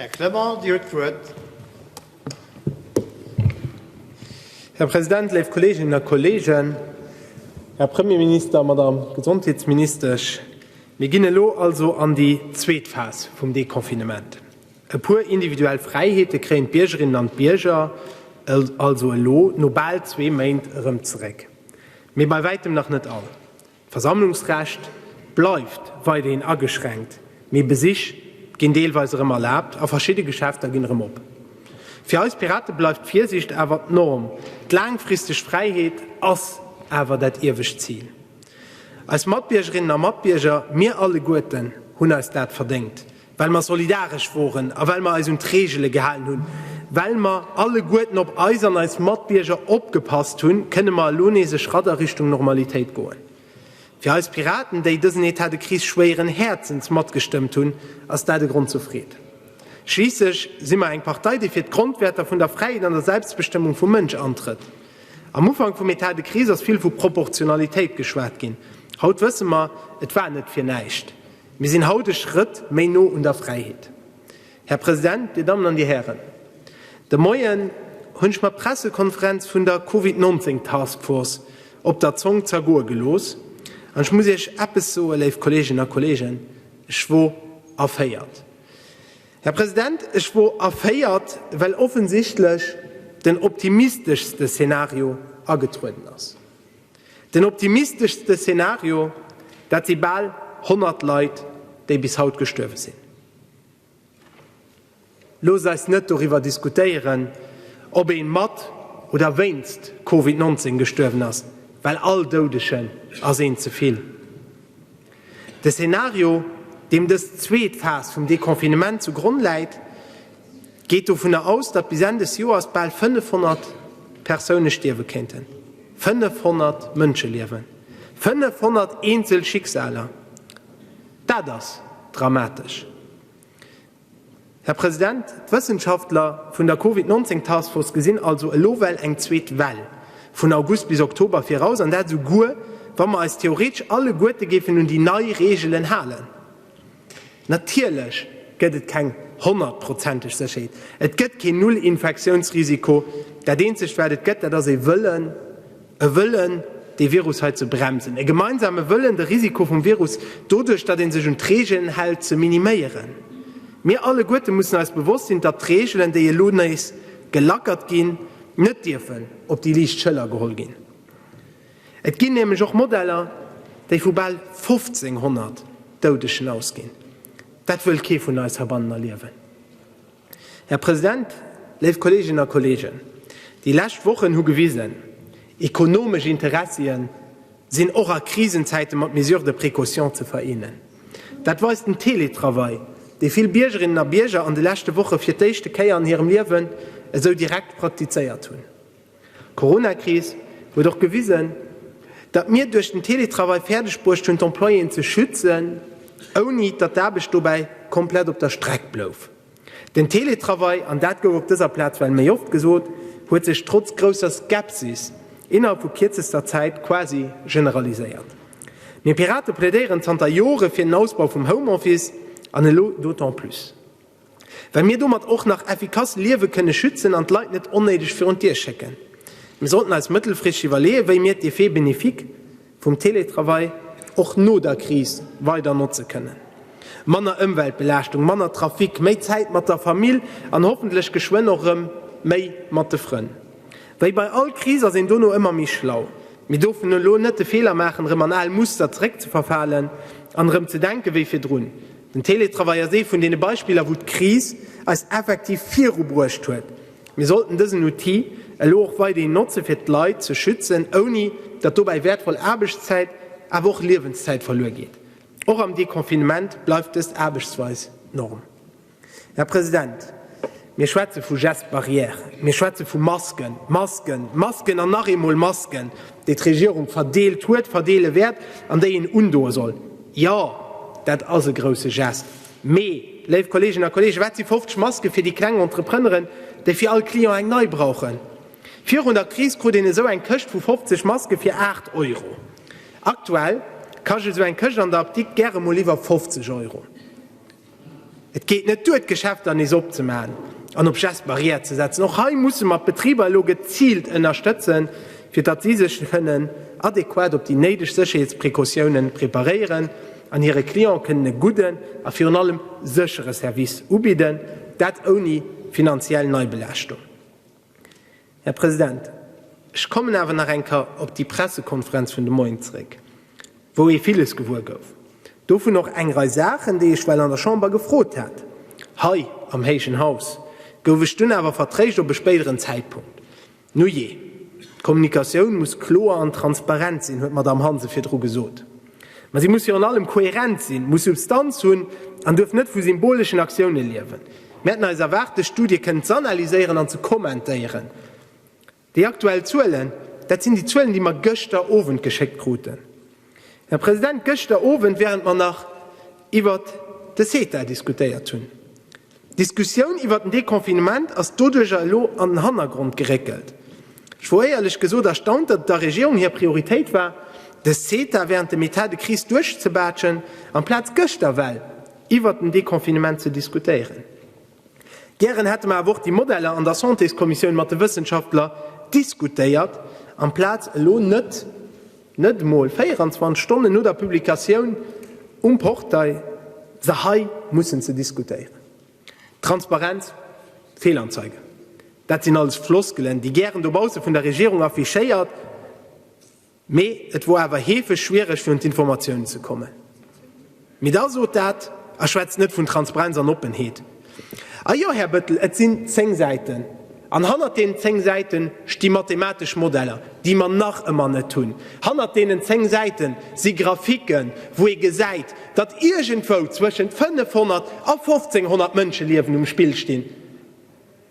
Här Clement, Dir huet d'Wuert. Här President, léif Kolleeginnen a Kolleegen, Här Premierminister, Madame Gesondheetsministesch, mir ginn elo also an déi zweet Phas vum Deconfinement. E puer individuell Fräiheete kréien d'Biergerinnen an d'Bierger also elo no bal zwee Méint erëm zeréck, mee bei wäitem nach net all. D'Versammlungsrecht bleift weiderhin ageschränkt, mee Besich ginn deelweis erëm erlaabt a verschidde Geschäfter ginn erëm op. Fir eis Pirate bleift d'Virsiicht awer d'Norm. D'laangfristeg Fräiheet ass awer dat iewescht Zil. Eis Matbiergerinnen a Matbierger, mir alleguerten hunn eis dat verdéngt, well mer solidaresch woren a well mer eis un d'Reegele gehalen hunn, well mer alleguerten op eis an eis Matbierger opgepasst hunn, kënne mer elo nees e Schratt a Richtung Normalitéit goen. Fir eis Piraten, déi dësen Etat de crise schwéieren Häerzens matgestëmmt hunn, ass dat e Grond zur Freed. Schliisslech si mer eng Partei, déi fir d'Grondwäerter vun der Fräiheet an der Selbstbestëmmung vum Mënsch antrëtt. Am Ufank vum Etat de crise ass vill vu Proportionalitéit geschwat ginn. Haut wësse mer, et war net fir näischt. Mir sinn haut e Schrëtt méi no un der Fräiheet. Här President, Dir Dammen an Dir Hären, de Moien hunn ech mer d'Pressekonferenz vun der Covid 19 Task Force op der Zong zergoe gelooss, an ech muss Iech eppes soe léif Kolleeginnen a Kolleegen, ech wor erféiert. Här President, ech wor erféiert, well offensichtlech den optimisteschste Szenario agetrueden ass. Den optimisteschste Szenario, dat si bal 100 Leit, déi bis haut gestuerwe sinn. Loosst eis net doriwwer diskutéieren, ob ee mat oder wéinst Covid 19 gestuerwen ass, well all Doudegen ass een ze vill. De Szenario, deem dës zweet Phas vum Deconfinement zu Gronn läit, geet dovunner aus, datt bis Enn des Joers bal 500 Persoune stierwe kéinten. 500 Mënscheliewen, 500 eenzel Schicksaler, dat ass dramatesch. Här President, d'Wëssenschaftler vun der Covid 19 Taskforce gesinn also elo well eng zweet Well vun August bis Oktober viraus, an dat esouguer wa mer eis theoretesch alleguerte géifen un déi nei Reegelen halen. Natierlech gëtt et keng honnertprozenteg Sécherheet, et gëtt keen Null-Infektiounsrisiko, dat eenzegt wat et gëtt, dat ass ee Wëllen, E Wëllen, dee Virus hei ze bremsen. E gemeinsame Wëllen, de Risiko vum Virus doduerch, datt ee sech un d'Reegelen hält, ze miniméieren. Mir alleguerte mussen eis bewosst sinn, datt d'Reegelen, déi elo nees gelackert ginn, net dierfen op déi liicht Schëller geholl ginn. Et ginn nämlech och Modeller, déi vu bal 1.500 Doudegen ausginn. Dat wëll kee vun eis heibannen erliewen. Här President, léif Kolleeginnen a Kolleegen, déi lescht Wochen hu gewisen, Ekonomesch Interessien sinn och a Krisenzäite mat Mesures de précaution ze vereenen. Dat weist den Teletravail, dee vill Biergerinnen a Bierger an de leschte Woche fir d'éischte Kéier an hirem Liewen esou direkt praktizéiert hunn. D'Corona-Kris huet och gewisen, datt mir duerch den Teletravail fäerdeg bruecht hunn, d'Employéen ze schützen, ouni datt d'Aarbecht dobäi komplett op der Streck blouf. Den Teletravail, an dat gouf op dëser Plaz well méi oft gesot, huet sech trotz grousser Skepsis innerhalb vu kierzester Zäit quasi generaliséiert. Mir Pirate plädéieren zanter Jore fir den Ausbau vum Homeoffice, an elo d'autant plus. Well mir domat och nach effikass Liewe kënne schützen an d'Leit net onnéideg virun d'Dier schécken. Mir sollten eis mëttelfristeg iwwerleeën, wéi mir d'Effet bénéfique vum Teletravail och no der Kris weider notze kënnen. Manner Ëmweltbelaaschtung, manner Trafic, méi Zäit mat der Famill an hoffentlech geschwënn och rëm méi mat de Frënn. Wéi bei all Kris ass een dono ëmmer méi schlau. Mee dofir elo net de Feeler maachen, rëm an al Muster zeréckzeverfalen an erëm ze denken wéi virdrun. Den Teletravail ass ee vun deene Beispiller, wou d'Kris eis effektiv virubruecht huet. Mir sollten dësen Outil elo och weiderhin notze fir d'Leit ze schützen, ouni datt dobäi wäertvoll Aarbechtszäit, awer och Liewenszäit verluer geet. Och am Deconfinement bleift dës Aarbechtsweis d'Norm. Här President, Mir schwätze vu Gestes barrières, mir schwätze vu Masken, Masken, Masken an nach eemol Masken, déi d'Regierung verdeelt huet, verdeele wäert an déi een undoe soll. Jo, dat ass e grousse Geste. Mee, léif Kolleeginnen a Kolleegen, wat si 50 Maske fir déi kleng Entrepreneren, déi fir all Client eng nei brauchen? Virun der Kris krut een esou eng Këscht vu 50 Maske fir 8 Euro. Aktuell kascht esou eng Këscht an der Apdikt gäre mol iwwer 50 Euro. Et geet net duer, d'Geschäfter nees opzemaachen an op Gestes barrières ze setzen. Och hei musse mer d'Betriber elo geziilt ënnerstëtzen, fir datt si sech kënnen adequat op déi néideg Sécherheetsprecautionen preparéieren an hire Cliente kënnen e gudden a virun allem séchere Service ubidden, dat ouni finanziell Neibelaaschtung. Här President, ech kommen awer nach eng Ker op déi Pressekonferenz vun de Moien zréck, wou ee villes gewuer gouf, dovun och eng Rei Saachen, déi ech well an der Chamber gefrot hat. Hei am héijen Haus gouf ech dunn awer vertréischt op e spéideren Zäitpunkt. Nujee, d'Kommunikatioun muss kloer an transparent sinn, huet d'Madame Hansen virdru gesot. Mä si muss virun allem kohärent sinn, muss Substanz hunn an duerf net vu symboleschen Aktiounen liewen. Mir hätten eis erwaart, dës Studie kënnen z'analyséieren an ze kommentéieren. Déi aktuell Zuelen, dat sinn déi Zuelen, déi mer gëschter Owend geschéckt kruten, Här President, gëschter Owend, während mer nach iwwert de CETA diskutéiert hunn. D'Diskussioun iwwert den Deconfinement ass doduerjer elo an den Hannergrond geréckelt. Ech wor éierlech gesot erstaunt, datt et der Regierung hir Prioritéit war, de CETA während dem Etat de crise duerchzebaaschen, amplaz gëschter well iwwert den Deconfinement ze diskutéieren. Gären hätte mer awer och déi Modeller an der Santéskommissioun mat de Wëssenschaftler diskutéiert, amplaz elo net. Net emol 24 Stonnen no der Publikatioun um Portail se hei mussen ze diskutéieren. Transparenz, Fehlanzeige, dat sinn alles Floskelen, déi gären dobausse vun der Regierung affichéiert, mee et wor awer heefeg schwiereg fir un d'Informatiounen ze kommen. Mee da sot dat a schwätzt net vun Transparenz an Oppenheet. A jo, Här Bëttel, et sinn zéng Säiten. An hannert deenen zéng Säite sti mathematesch Modeller, déi mer nach ëmmer net hunn. Hannert deenen zéng Säite si Graphiken, wou ee gesäit, datt iergendwou zwëschent 500 a 1.500 Mënscheliewen um Spill stinn.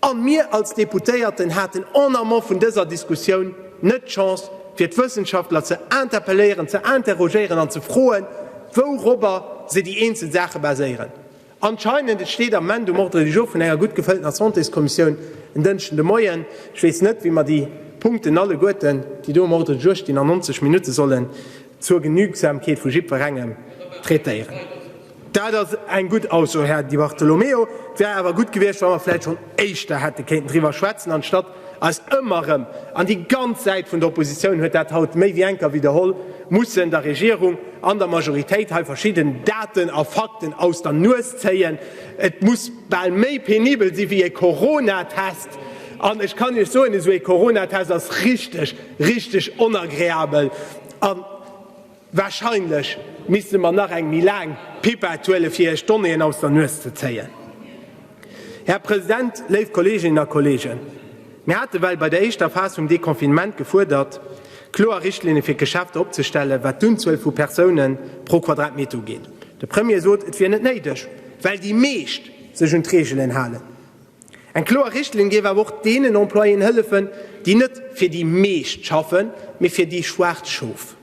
A mir als Deputéierten haten en amont vun dëser Diskussioun net d'Chance, fir d'Wëssenschaftler ze interpelléieren, ze interrogéieren an ze froen, wourobber se déi eenzel Saache baséieren. Anscheinend, et steet am Ment um Ordre du jour vun enger gutt gefëlltener Santéskommissioun en Dënschden de Moien, ech weess net, wéi mer déi Punkten alleguerten, déi do um Ordre du jour stinn, an 90 Minutte solle zur Genügsamkeet vu jiddwerengem traitéieren. Dat ass eng gutt Ausso, Här Di Bartolomeo. Et wär awer gutt gewiescht, wa mer vläicht schonn éischter hätte kéinten driwwer schwätzen, anstatt eis ëmmer erëm, an déi ganz Säit vun der Oppositioun huet dat haut méi wéi eng Kéier widderholl, mussen der Regierung an der Majoritéit hei verschidden Daten a Fakten aus der Nues zéien. Et muss bal méi penibel si wéi e Coronatest. An ech kann Iech soen, esou e Coronatest ass richteg, richteg onagreabel. Wahrscheinlech misste mer nach eng méi laang Pipette huelen, fir Iech d'Donnéeën aus der Nues ze zéien. Här President, léif Kolleeginnen a Kolleegen, mir hate well bei der éischter Phas vum Deconfinement gefuerdert, kloer Richtlinne fir d'Geschäfter opzestellen, wat d'Unzuel vu Persoune pro Quadratmeter ugeet. De Premier sot, et wier net néideg, well déi meescht sech un d'Reegelen halen. Eng kloer Richtlinn géif awer och deenen Employéen hëllefen, déi net fir déi meescht schaffen, mee fir déi schwaarz Schof.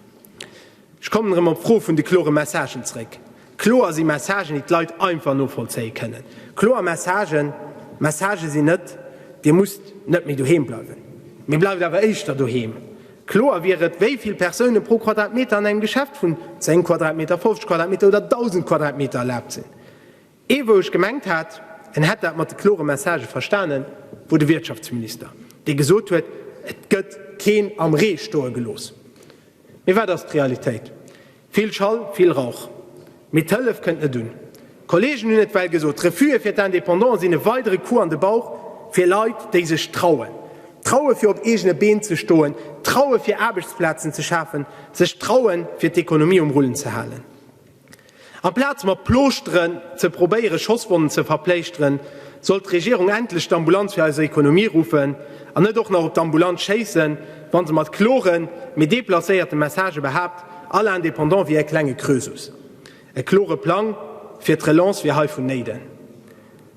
Ech kommen erëm op d'Fro vun de klore Messagen zréck. Kloer si Messagen, déi d'Leit einfach novollzéie kënnen. Kloer Messagen, Messagë sinn net, Dir musst net méi doheem bleiwen, mee bleift awer éischter doheem. Kloer wier et, wéi vill Persoune pro Quadratmeter an engem Geschäft vun 10 Quadratmeter, 50 Quadratmeter oder 1.000 Quadratmeter erlaabt sinn. Ee wou ech gemengt hat, en hätt dat mat de klore Messagë verstanen, wor de Wirtschaftsminister, dee gesot huet, et gëtt keen am Ree stoe gelooss. Mee wat ass d'Realitéit? Vill Schall, vill Rauch. Mee d'Hëllef kënnt net un. D'Kollegen hunn et well gesot, d'Refuge fir d'Indépendants sinn e weidere Coup an de Bauch fir Leit, déi sech trauen. Traue fir op eegene Been ze stoen, traue fir Aarbechtsplazen ze schafen, sech trauen, fir d'Ekonomie um Rullen ze halen. Amplaz mat Plooschteren ze probéieren, Schosswonnen ze verpléischteren, sollt d'Regierung endlech d'Ambulanz fir eiser Ekonomie ruffen an net och nach op d'Ambulanz schéissen, wa se mat kloren, mee deplacéierte Messagë behaapt, all Indépendant wier e klenge Krösus. E klore Plang fir d'Relance wier hei vonnéiden.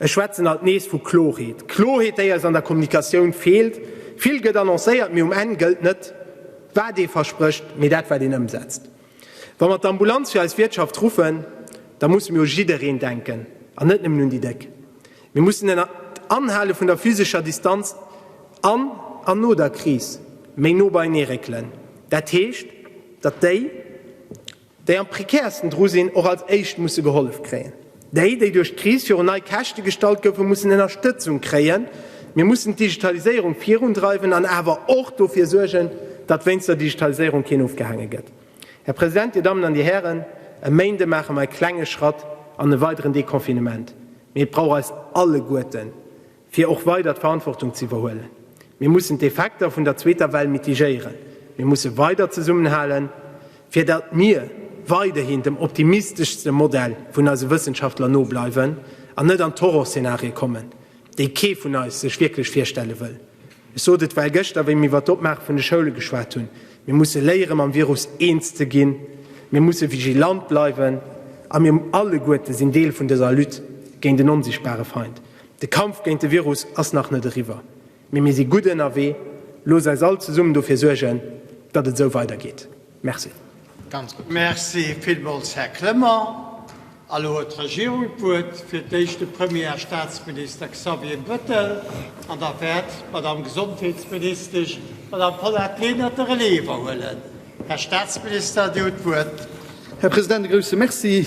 Ech schwätzen alt nees vu Klorheet, Klorheet, déi eis an der Kommunikatioun feelt. Vill gëtt annoncéiert, mee um Enn gëllt net, wat ee versprécht, mee dat, wat een ëmsetzt. Wa mer d'Ambulanz fir eis Wiertschaft ruffen, da musse mir u jiddereen denken an net nëmmen un déi Déck. Mir mussen un d'Anhale vun der physescher Distanz an an no der Kris méi no beienee réckelen. Dat heescht, datt déi, déi am prekäersten dru sinn, och als éischt musse gehollef kréien. Déi, déi duerch d'Kris virun nei Käschte gestallt goufen, mussen Ënnerstëtzung kréien. Mir mussen d'Digitaliséierung virundreiwen an awer och dofir suergen, datt wéinst der Digitaliséierung keen ofgehaange gëtt. Här President, Dir Dammen an Dir Hären, e Méinde maache mer e klenge Schratt an e weideren Deconfinement, mee et brauch eis alleguerten, fir och weider d'Verantwortung z'iwwerhuelen. Mir mussen d'Effekter vun der zweeter Well mitigéieren. Mir musse weider zesummenhalen, fir datt mir weiderhin dem optimisteschste Modell vun eise Wëssenschaftler no bleiwen an net an d'Horrorszenarie kommen, déi kee vun eis sech wierklech virstelle wëll. Ech sot et well gëschter, wéi mir iwwer d'Opmaache vun de Schoule geschwat hunn, Mir musse léiere mam Virus eens ze ginn, mir musse vigilant bleiwen a mir alleguerte sinn Deel vun dëser Lutte géint en onsichtbare Feind. De Kampf géint de Virus ass nach net eriwwer, mee mir si gutt ënnerwee. Loosst eis all zesummen dofir suergen, datt et esou weidergeet. Merci. Merci villmools, Här Clement. A lo huet d'Regierung d'Wuert, fir d'éischt de Premier a Staatsminister Xavier Bettel an da wäert d'Madamm Gesondheetsministesch, d'Madamm Paulette Lenert, de Relais iwwerhuelen. Här Staatsminister, Dir hutt d'Wuert. Här President, e grouse Merci.